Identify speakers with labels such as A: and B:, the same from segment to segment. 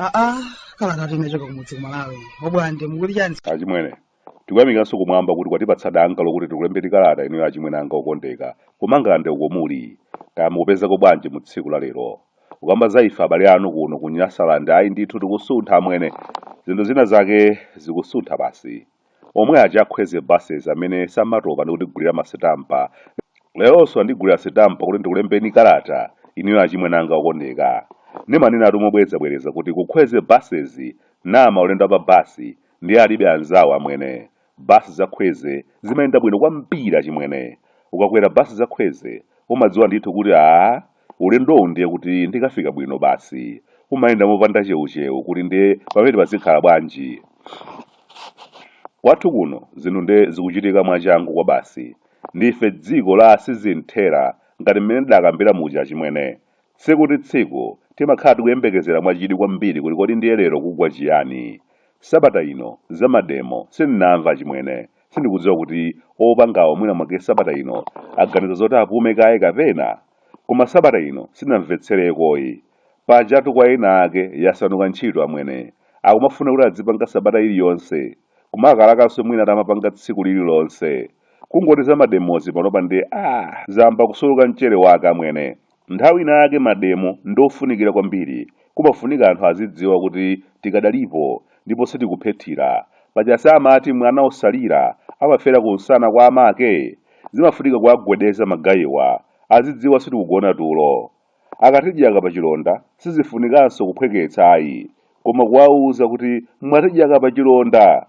A: aa kala kati nachoka kumudzi kumalawi obwande mukuti chani achimwene Tikuyamikiranso kumwamba kuti kwatipatsa danga lokuti tikulembeni kalata inuyo achimwene anga okondedwa ku Mangalande uko muli. Kaya mukupezako bwanji mu tsiku la lero. Kukamba za ife abale anu kuno ku Nyasaland ayi ndithu tikusuntha amwene. Zinthu zina zake zikusuntha basi. Omwe aja a Khweze Buses amene samatopa ndikutigulira ma sitampa, leronso andigulira sitampa kuti ndikulembeni kalata inuyo achimwene anga okondedwa. Ndimanenatu mobwerezabwereza kuti ku Khweze Buses ndi maulendo a pa bus Ndiye alibe anzawo amwene. Bus za khweze zimayenda bwino kwambiri achimwene. Ukakwera bus za khweze umadziwa ndithu kuti aah ulendowu ndiye kuti ndikafika bwino basi. Umayenda mopanda chewuchewu kuti nde pamenepa zikhala bwanji. Kwathu kuno zinthu nde zikuchitika mwachangu kwabasi. Ndife dziko la sizinthera ngati mmene ndidakambira muja achimwene. Tsiku ndi tsiku, timakhala tikuyembekezera mwachidwi kwambiri kuti kodi ndiye lero kugwa chiyani. Sabata ino, za mademo, sindinamve achimwene. Sindikudziwa kuti opangawo mwina mwake sabata ino aganiza zoti apume kaye kapena? Koma sabata ino sindinamvetserekoyi. Pajatu kwa ena ake yasanduka ntchito amwene. Akumafuna kuti adzipanga sabata iliyonse. Kumalakalakanso mwina atamapanga tsiku lililonse. Kungoti za mademozi panopa ndiye aah zayamba kusuluka mchere wake amwene. Nthawi ina yake mademo ndiofunikira kwambiri kumafunika anthu azidziwa kuti tikadalipo ndipo sitikuphethira. Paja si amati mwana osalira amafera kunsana kwa amake? Zimafunika kuwagwedeza magayiwa azidziwa sitikugona tulo. Akatidyaka pachilonda sizifunikanso kuphweketsa ayi koma kuwauza kuti mwatidyaka pachilonda!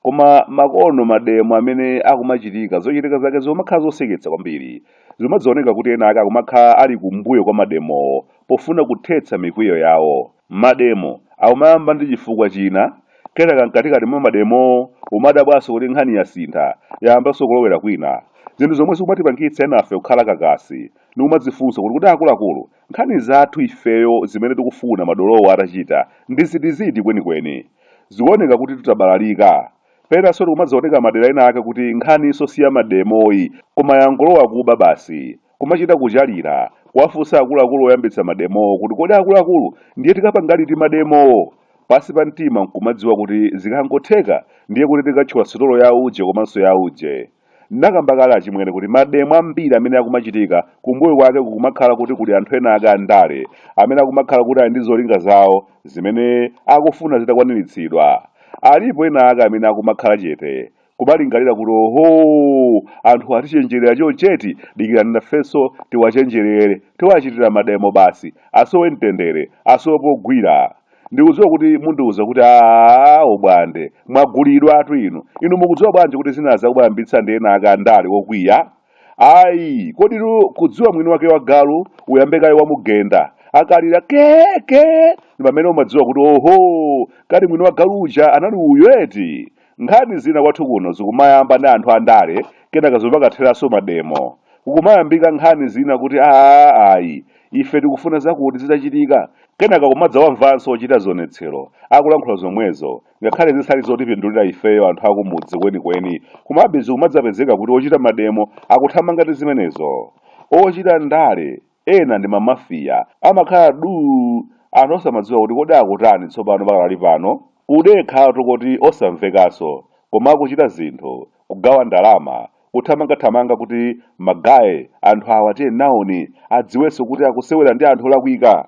A: Koma makono mademo amene akumachitika zochitika zake zumakhala zoseketsa kwambiri. Zumadzaoneka kuti ena ake akumakhala ali kumbuyo kwa mademowo pofuna kuthetsa mikwiyo yawo. Mademo akumayamba ndi chifukwa china, kenaka mkatikati mwa mademowo umadabwanso kuti nkhani yasintha, yayambanso kulowera kwina. Zinthu zomwe zikumatipangitsa enafe kukhala kakasi ndi kumadzifunsa kuti kodi akuluakulu Nkhani zathu ifeyo zimene tikufuna madolowa atachita ndi zitiziti kwenikweni? Zikuoneka kutitu tabalalika. Penanso zikumadzaoneka madera ena ake kuti nkhaninso si ya mademoyi koma yangolowa kuba basi. Kumachita kuchalira, kuwafunsa akuluakulu oyambitsa mademowo kuti kodi akuluakulu ndiye tikapanga liti mademowo? Pansi pa mtima n'kumadziwa kuti zikangotheka ndiye kuti tikathyola sitolo ya uje komanso ya uje. Ndinakamba kale achimwene kuti mademo ambiri amene akumachitika kumbuyo kwake kukumakhala kuti kuli anthu ena ake andale amene akumakhala kuti ali ndi zolinga zawo zimene akufuna zitakwaniritsidwa. Alipo ena ake amene akumakhala chete kumalingalira kuti ohoo anthuwa atichenjerera choncheti dikirani nafenso tiwachenjerere tiwachitira mademo basi asowe mtendere asowe pogwira. Ndikudziwa kuti mundiuza kuti aah obwande, mwagulidwatu inu. Inu mukudziwa bwanji kuti zinazi akumaziyambitsa ndi ena ake andale okwiya? Ayi, koditu kudziwa mwini wake wa galu uyambe kaye wamugenda. Akalira ke ke ndi pamene umadziwa kuti oho, kani mwini wa galu uja anali uyu eti? Nkhani zina kwathu kuno zikumayamba ndi anthu a ndale kenaka zimakatheranso mademo. Kukumayambika nkhani zina kuti aah ayi ife tikufuna zakuti zitachitika kenaka kumadzawamvanso ochita zionetsero akulankhula zomwezo ngakhale zisali zotipindulira ifeyo anthu a kumudzi kwenikweni komabe zikumadzapezeka kuti ochita mademo akuthamanga ndi zimenezo. Ochita ndale ena ndi ma mafia amakhala duu anthu osamadziwa kuti kodi akutani tsopano pakadali pano kudekhatu koti osamvekanso koma akuchita zinthu kugawa ndalama kuthamanga thamanga kuti ma guy anthu awa tiye nawoni adziwenso kuti akusewera ndi anthu olakwika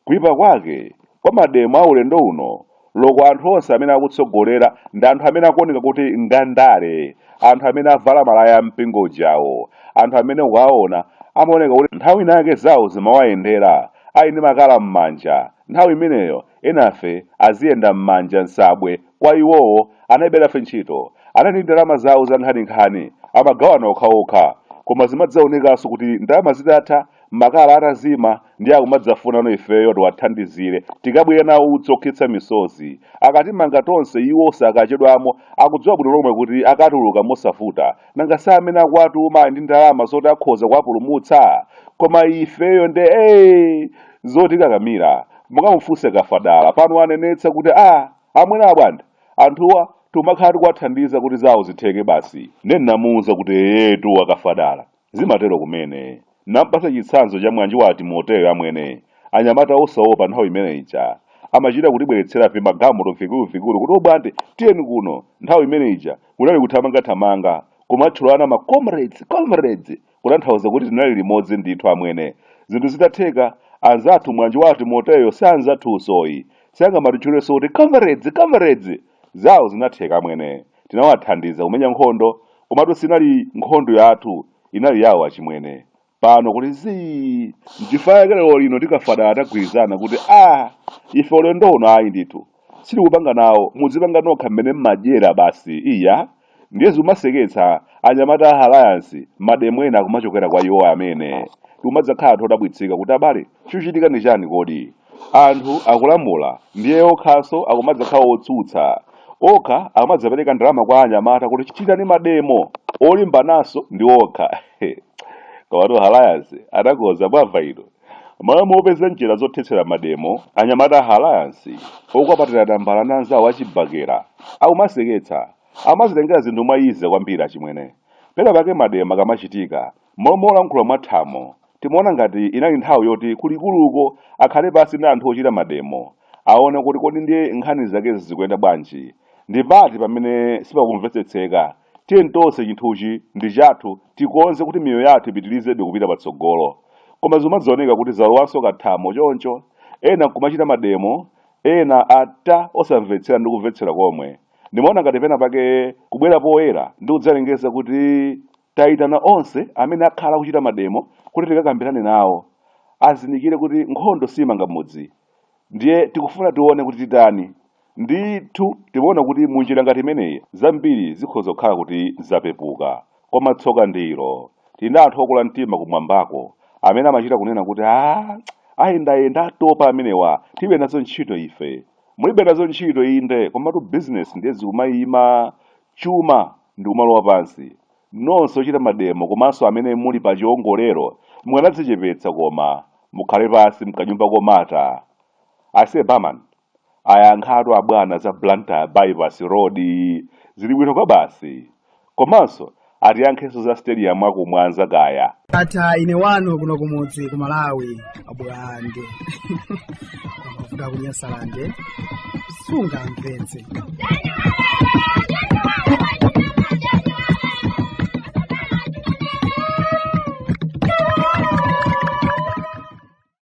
A: Kuipa kwake Kwa mademo a ulendo uno roko anthu onse amene akutsogolera ndi anthu amene akuoneka kuti ngaandale anthu amene avala malaya a mpingo ujawo anthu amene ukawaona amaoneka kuti nthawi ina yake zawo zimawayendera ali ndi makala mmanja nthawi imeneyo enafe aziyenda mmanja nsabwe kwa iwowo analibe nafe ntchito anali ndi ndalama zawo zankhaninkhani amagawana okhaokha koma zimadzaonekanso kuti ndalama zitatha makala atazima ndiye akumadzafunano ifeyo tiwathandizire tikabwire nawo utsi okhetsa misozi. Akatimanga tonse iwo sakachedwamo akudziwa bwino lomwe kuti akatuluka mosavuta. Nanga si amene akuwatuma ali ndi ndalama zoti akhoza kuwapulumutsa? Koma ifeyo nde ee! Zotikakamira. Mukamufunse Kafadala, pano wanenetsa kuti aa amwene a Bwande, anthuwa tikumakhala tikuwathandiza kuti zawo zitheke basi. Nde ndinamuuza kuti eyetu a Kafadala. Zimatero kumene. Ndinampatsa chitsanzo cha mwanji wa a Timoteyo amwene, anyamata osaopa nthawi imene ija, amachita kutibweretsera vimagalimoto vikuluvikulu kuti obwande tiyeni kuno, nthawi imene ija kunali kuthamangathamanga, kumatchulana ma comrades, comrades, kutanthauza kuti tinali limodzi ndithu amwene. Zinthu zitatheka, anzathu mwanji wa a Timoteyo si anzathunsoyi, sangamatitchulenso kuti comrades, comrades! Zawo zinatheka amwene. Tinawathandiza kumenya nkhondo, komatu sinali nkhondo yathu, inali yawo achimwene. Pano kuli zii! Nchifukwa chake lero lino ndi Kafadala tagwirizana kuti aah ife ulendo uno ayi ndithu sitikupanga nawo, mudzipanga nokha mmene mmadyera basi iyaa. Ndiye zikumaseketsa, anyamata a Alliance, mademo ena akumachokera kwa iwowa amwene. Tikumadzakhala anthu odabwitsika kuti abale, chikuchitika ndi chani kodi? Anthu akulamula ndiye okhanso akumadzakhala otsutsa. Okha akumadzapereka ndalama kwa anyamata kuti chitani mademo olimbananso ndi okha. Komatu Alliance inakonza mwamva inu. M'malo mopeza njira zothetsera mademo, anyamata a Alliance, okwapatira tambala ndi anzawo a Chibakera, akumaseketsa, amazitengera zinthu mwa easy kwambiri achimwene. Pena pake mademo akamachitika, m'malo molankhula mwa thamo, timaona ngati inali nthawi yoti ku likuluko akhale pansi ndi anthu ochita mademo, aone kuti kodi ndiye nkhani zake zikuyenda bwanji, ndi pati pamene sipakumvetsetseka, Tiyeni tonse chinthuchi ndi chathu tikonze kuti miyoyo yathu ipitilizebe kupita patsogolo. Koma zikumadzaoneka kuti zalowanso ka thamo choncho, ena nkumachita mademo, ena ata osamvetsera ndi kumvetsera komwe. Ndimaona ngati pena pake kubwera poyera ndi kudzalengeza kuti taitana onse amene akhala akuchita mademo kuti tikakambirane nawo, azindikire kuti nkhondo siimanga mudzi. Ndiye tikufuna tione kuti titani. Ndithu, timaona kuti mu njira ngati imeneyi, zambiri zikhoza kukhala kuti zapepuka. Koma tsoka ndi ilo, tili ndi anthu okula mtima kumwambako amene amachita kunena kuti, Aa, ayendayenda atopa amenewa, tilibe nazo ntchito ife. Mulibe nazo ntchito inde, komatu bizinesi ndiye zikumaima, chuma ndi kumalowa pansi. Nonse ochita mademo komanso amene muli pa chiongolero mukanadzichepetsa koma mukhale pansi mkanyumba komata. Aise barman ayankhatu abwana za Blantyre bypass road yi zili bwino kwabasi. Komanso atiyankhenso za stadium ya ku Mwanza kaya. Ndatha ine wanu kuno kumudzi ku Malawi. abwange kuvuga kunyasalande sungamvetse